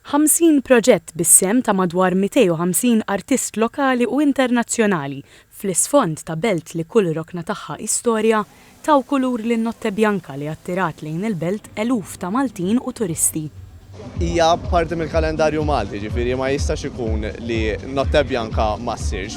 Ħamsin proġett bis-sehem ta' madwar 250 artist lokali u internazzjonali, fl-isfond ta' belt li kull rokna tagħha hi storja, taw kulur lin-Notte Bianca li attirat lejn il-belt eluf ta' Maltin u turisti. Hija parti mill-kalendarju Malti, jiġifieri ma jistax ikun li Notte Bianca ma ssirx.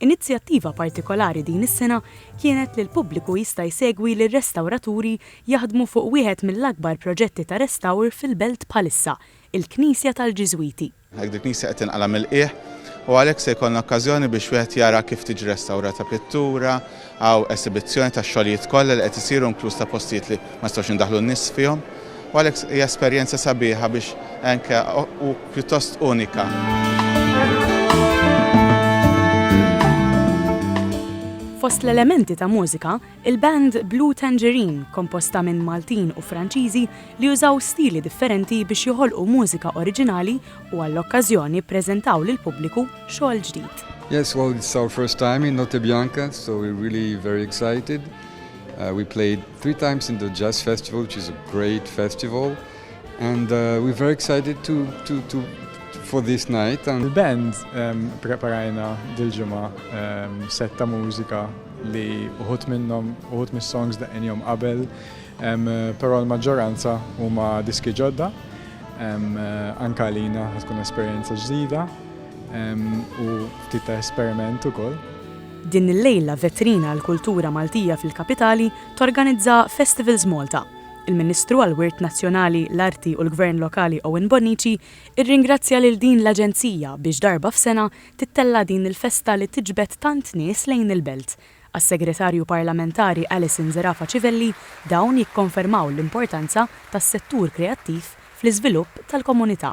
Inizjattiva partikolari din is-sena kienet li l-pubbliku jista' jsegwi lir-restawraturi jaħdmu fuq wieħed mill-akbar proġetti ta' restawr fil-belt bħalissa, il-Knisja tal-Ġiżwiti. Għalhekk dil-knisja qed tinqala' mill-qiegħ u għalhekk se jkollna okkażjoni biex wieħed jara kif tiġi restawrata pittura, Hawn esibizzjoni tax-xogħlijiet kollha li qed isiru inkluż ta' postijiet li ma nistgħux indaħħlu n-nies fihom u għalhekk hija esperjenza sabiħa biex anke u pjuttost unika. Fost l-elementi ta' mużika, il-band Blue Tangerine komposta minn Maltin u Franċiżi li użaw stili differenti biex joħolqu mużika oriġinali u għall-okkażjoni ppreżentaw lill-pubbliku xogħol ġdid. Yes, well it's our first time in Notte Bianca, so we're really very excited. Uh, we played three times in the Jazz Festival, which is a great festival, and uh, we're very excited to, to, to for this night. And... Il-band um, preparajna dil-ġimgħa um, setta mużika li uħut minnhom uħut mis-songs da' qabel Però l-maġġoranza huma diski ġodda, anke għalina ħa tkun esperjenza ġdida u ftit ta' esperiment ukoll. Din il-lejla vetrina għall-kultura Maltija fil-Kapitali torganizza Festivals Malta. Il-Ministru għall-Wirt Nazzjonali, l-Arti u l-Gvern Lokali Owen Bonnici rringrazzja lil din l-aġenzija biex darba f'sena tittella' din il-festa li tiġbed tant nies lejn il-belt. Għas-Segretarju Parlamentari Alison Zerafa Civelli, dawn jikkonfermaw l-importanza tas-settur kreattiv fl-iżvilupp tal-komunità.